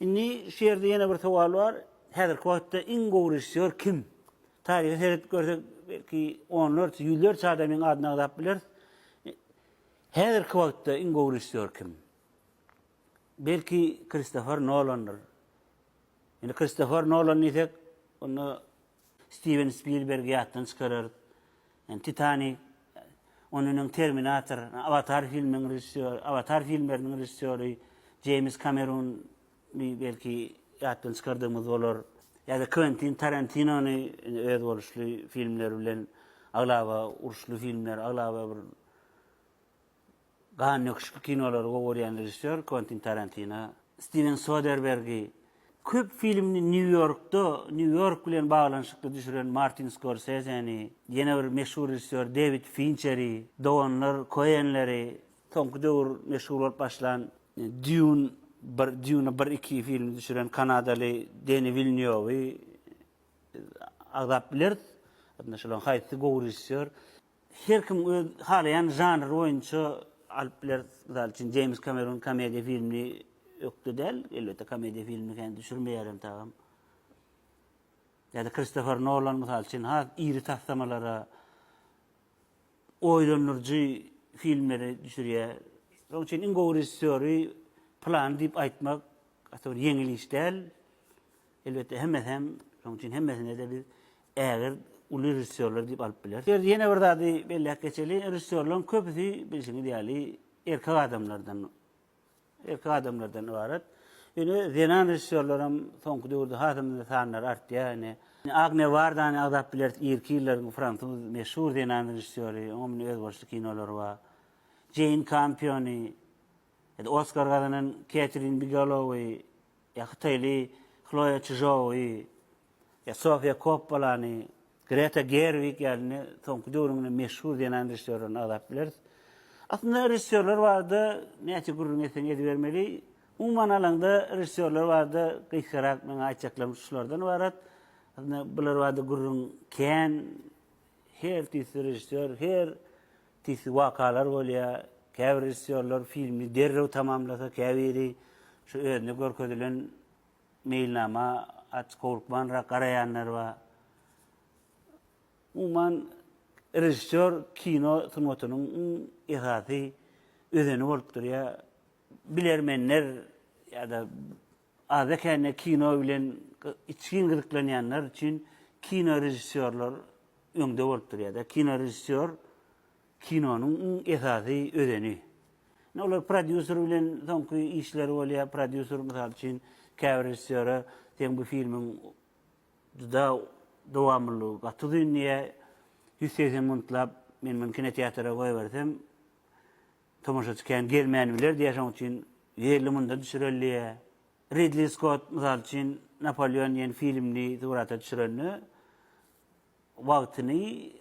Indi şu ýerde ýene bir sowal bar, häzirki wagtda iň gowy režissýor kim? Taryha seredip görsek, belki, onlarça, ýüzlerçe adamyň adyny agzap bileris. Häzirki wagtda iň gowy režissýor kim? Belki, Kristofer Nolandyr. Indi Kristofer Nolan diýsek, onda Stiwen Spilbergi ýatdan çykararys. Ýani Titanik, ondan öň Terminator, Awatar filmleriň režissýory, Awatar filmleriniň režissýory Jeýms Kamerun bi belki ýatdan çykardygymyz bolar. Ýa-da Kwentin Tarantinony indi özboluşly filmleri bilen aglaba uruşly filmler, aglaba bir Gandöküşli kinolary gowy görýän režissýor Kwentin Tarantino Stiwen Soderbergi, köp filmini Nýu-Ýorkda, Nýu-Ýork bilen baglanyşykly düşüren Martin Skorsezeni, ýene bir meşhur režissýor Dewid Finçeri, doganlar Koenleri, soňky döwür meşhur bolup başlan Dýun bir, Dýuna bir, iki filmini düşüren kanadaly Deni Wilnýowy agzap bileris. Ýa-da şolaryň haýsy gowy režissýor? Her kim öz halaýan žanry boýunça alyp biler. Mysal üçin, Jeýms Kamerun komediýa filmini ökde däl, elbetde, komediýa filmini kän düşürmeýär hem tagam. Ýa-da Kristofer Nolan, mysal üçin, has iri taslamalara, oýlandyryjy filmleri düşürýär. Şonuň üçin iň gowy režissýory pylany diýip aýtmak gaty bir ýeňil iş däl. Elbetde hemmesi hem, şonuň üçin hemmesine-de biz ägirt uly režissýorlar diýip alyp bileris. Bu ýerde ýene bir zady belläp geçeli, režissýorlaryň köpüsi bilşiňiz ýaly erkek adamlardan, erkek adamlardan ybarat. Ýöne zenan režissýorlar hem soňky döwürde hasam-da sanlary artýar. Ine, Agne Wardany agzap bileris, irki ýyllaryň fransuz meşhur zenan režissýory, oňa mundan özboluşly kinolary bar. Jeýn Kampiony, Oskar gazanan Ketrin Bigalowy, hytaýly Hloýa Çžowy, Sofiýa Koppolany, Greta Gerwig ýaly soňky döwrüň meşhur zenan režissýorlaryny agzap bileris. Aslynda režissýorlar barada näçe gürrüň etseň edibermeli. Umuman alaňda režissýorlar barada gysgarak meň aýtjaklarym şulardan ybarat. Aslynda bular barada gürrüň kän. Her tüýsli režissýor, her Tisgi wakalar bolýar. Käbir režissýorlar filmi derrew tamamlasa, käbiri şu özüne görkezilen meýilnama aç howlukmanrak garaýanlar bar. Umuman, režissýor kino sungatynyň iň esasy özeni bolup durýar. Bilermenler ýa-da Azda-kände kino bilen içgin gyzyklanýanlar üçin kinorežissýorlar öňde bolup durýar-da. Kinorežissýor kinonyň iň esasy özeni. Indi olar prodýuser bilen soňky işleri bolýar. Prodýuser, mysal üçin, käbir režissýora Seň bu filmiň juda dowamlylygy gaty uzyn diýýär. Ýüz segsen minutlap men muny kinoteatra goýbersem, Tomaşaçy kän gelmän biler diýýär, şonuň üçin ýerli munda düşürilýä. Ridli Skott, mysal üçin, Napoleon diýen filmini surata düşürende wagtyny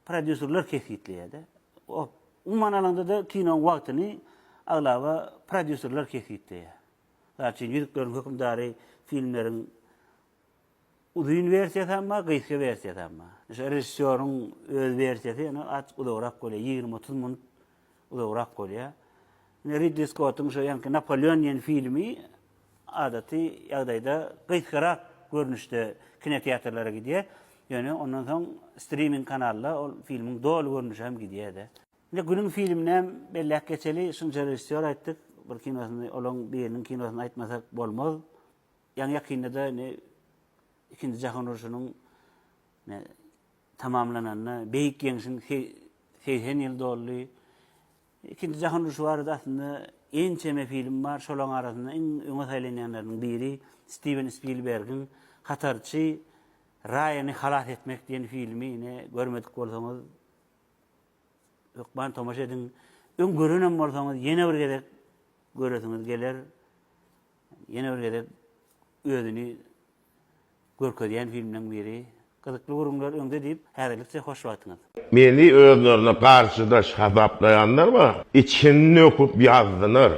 prodýuserler kesgitleýär-de. Wagt, umuman alanda-da kinoň wagtyny aglaba prodýuserler kesgitleýär. Mysal üçin, Ýüzükleriň hökümdary filmleriň Uzyn wersiýasy hem bar, gysga wersiýasy hem bar. Meselem, režissýoryň öz wersiýasy ýene azajyk uzagrak bolýar, ýigrimi-otuz minut uzagrak bolýar. Ine, Ridli Skottuň şu ýaňky Napoleon diýen filmi adaty ýagdaýda gysgarak görnüşde kinoteatrlara gidýär. Ýöne ondan soň striming kanalda ol filmiň doly görnüşi hem gidýär-de. Ine, günüň filmini hem belläp geçeli, şunça režissýor aýtdyk, bir kinosyny, olaryň biriniň kinosyny aýtmasak bolmaz. Ýaňy-ýakynda-da indi Ikinji jahan urşunyň tamamlananyna, Beýik Ýeňşiň segsen ýyly doldy. Ikinji jahan urşy barada aslynda ençeme film bar. Şolaryň arasynda iň öňe saýlanýanlarynyň biri Stiwen Spilbergiň Hatarçy Raýany halas etmek diýen filmi. Ine, görmedik bolsaňyz, hökman tomaşa ediň. Öň görenem bolsaňyz, ýene bir gezek göresiňiz geler. Ýene bir gezek özüni görkezýän filmleriň biri. Gyzykly gürrüňler öňde diýip, häzirlikçe hoş wagtyňyz. Meni özlerine garşydaş hasaplaýanlar ba içini nöküp ýazdylar.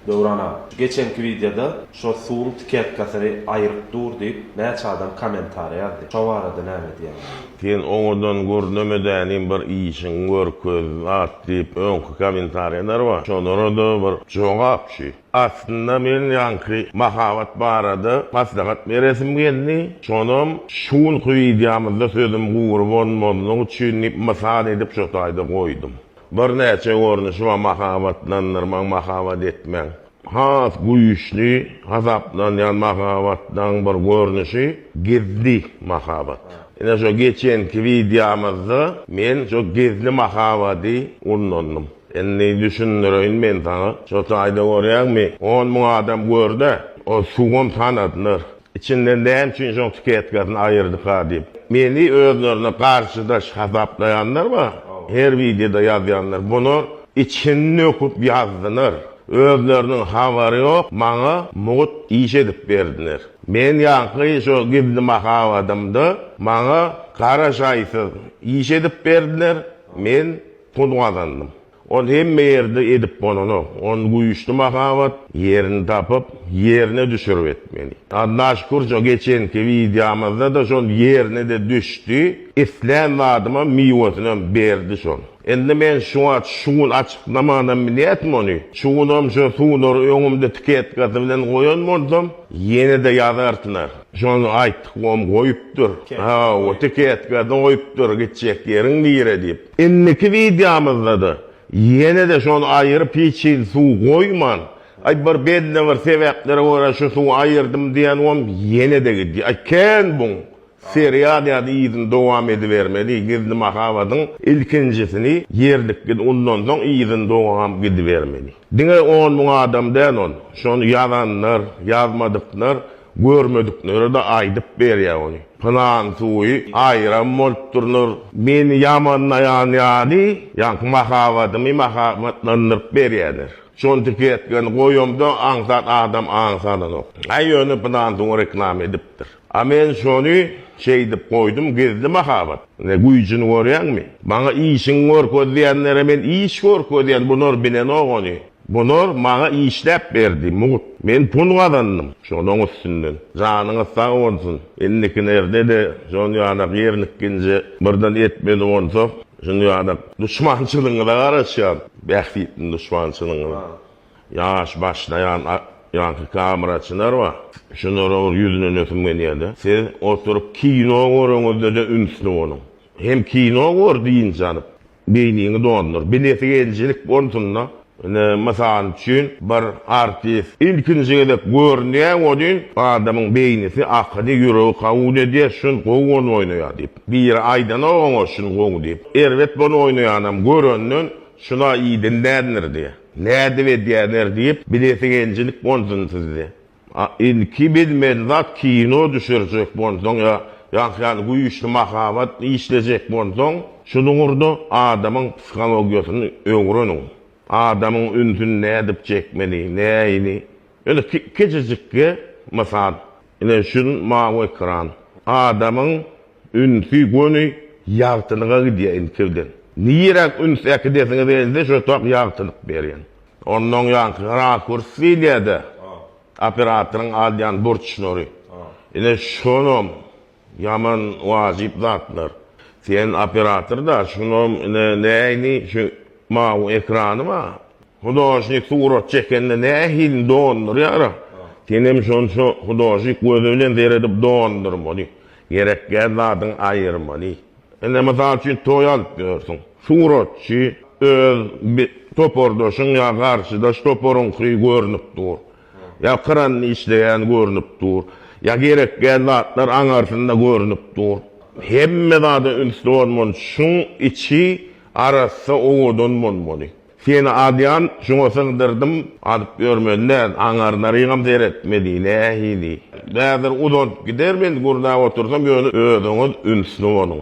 Döwran aga, şu geçenki wideoda şo suwuň tiketkasyny aýyryp dur diýip näçe adam kommentariýa ýazdy. Şo barada näme diýýäňiz? Sen oňadan görnemedänim bir işiň görkez at diýip öňki kommentariýalar bar şolara da bir jogap şu. Aslynda men ýaňky mahabat barada maslahat beresim geldi, şonam şu günki wideomyzda sözüm gury bolmazlygy üçin diýip mysal edip şu taýda goýdum. Birnäçe görnüşi bar mahabatlandyrmagyň, mahabat etmegiň. Has güýçli hasaplanýan mahabatlaryň bir görnüşi gizli mahabat. Ine şo geçenki wideomyzda men şo gizli mahabady ullandym. Indi düşündireýin men saňa. Şo taýda görýäňmi, on müň adam gör-de, ol suwam tanadylar. Içinden näme üçin şoň sketkasyn aýyrdyka diýip. Meni özlerine garşydaş hasaplaýanlar bar, her wideoda ýazýanlar. Bular içini döküp ýazdylar. Özleriniň habary ýok, maňa mugt iş edip berdiler. Men ýaňky şo gizli mahabadymda maňa garaşaýsyz iş edip berdiler. Men. Pul gazandym. Ol hemme ýerde edip bolanok. Ony güýçli mahabat ýerini tapyp, ýerine düşürip etmeli. Alla şükür şo geçenki wideomyzda-da şol ýerine-de düşdi. Islän zadyma miwesinem berdi şol. Indi men şu wagt şu gün açyklamanam bilýärdim ony. Şu günem şo suwlary öňümde tiketkasy bilen goýan bolsam, ýene-de ýazarsylar. Şony aýtdyk, oňa goýupdyr. Hawa, tiketkasy goýupdyr, gitjek ýeriň nire diýip. Indiki wideomyzda-da ýene-de şony aýyryp hiç hili suw goýman, aý bir belli bir sebäplere görä şu suwy aýyrdym diýenwom ýene-de gidýär. Aý kän buň serial ýaly yzyny dowam edibermeli, Gizli mahabatyň ilkinjisini ýerlik git undansoň yzyny dowam gidibermeli. Diňe on müň adam däl ol, şony ýazanlar, ýazmadyklar Görmediklere-de aýdyp berýär ony. Pylan suwy aýram bolup durnur. Meni ýamanlaýan ýaly, ýaňky mahabatymy mahabatlandyryp berýärler. Şol tiketkeni goýamda, aňsat adam aň salanok. Aý, ýöne pylan suwy reklama edipdir. A men şony şeýdip goýdum, gizli mahabat. Ine, güýjüni görýäňmi? Maňa işiňi görkez diýenlere men iş görkezýän, bular bilenok ony. Bular maňa işläp berdi, mugt. Men pul gazandym şolaň üstünden. Janyňyz sag bolsun. Indikinerde-de şol ýalak ýerlikginje birden etmeli bolsak, şul ýalak duşmançylygyňyza garaşýan, bähbitli duşmançylygyňyza. Ýaş başlaýan ýaňky kameraçylar bar. Şulara bir ýüzlenesim gelýär-de. Siz oturyp kino göreniňizde-de ünsli boluň. Hem kino gör dynç alyp. Beýniňi doldur. Bileti geljilik bolsunda, ine, mysal üçin, bir artist ilkinji gezek görünýä welin, adamyň beýnisi, akyly, ýüregi kabul edýär, şun gowy ol oýnaýar diýip. Biri aýdanok oňa şun gowy diýip. Erbet bol oýnaýanam görenden, şuna idin nädinir diýýär. Nädip edýäner diýip, bileti geljilik bolsun sizde. A ilki bilmeli zat kino düşürjek bolsaň ýa ýaňky ýaly güýçli mahabat işlejek bolsaň, şunuň ugurda adamyň psihologiýasyny öwreniň. Adamyň ünsüni nädip çekmeli, näini. Ýöne kiçijikge mysal. Ine şun mawy ekran. Adamyň Ünsi göni ýagtylyga gidýär inçirden. Niräk üns äkidesiňiz gelse şotak ýagtylyk berýän. Onda oňýanky rakurs diýilýärde operatoryň alýan burçlary. Ine şonam ýaman wajyp zatlar. Sen operator da şonam ine näýni şu mawy ekrany bar. Hudožnik surat çekende nähilini dondurýara? Senem şonça hudožnik gözi bilen seredip dondurmaly. Gerekgäh zadyň aýyrmaly. Ine mysal üçin toý alyp ýörsüň. Suratçy öz topardaşyň ýa garşydaş toparyňky görnüp dur. Ýa kranda işleýän görnüp dur. Ýa gerekgäh zatlar aňarsynda görnüp dur. Hemme zada ünsli bolmaly. Şuň içi arassa owadan bolmaly. Seni adyan şuňa sygdyrdym adyp ýörmeli däl aňarlarygam seretmeli nähili bäzir uzalp gider men gurdap otursam ýöne özüňiz ünsli boluň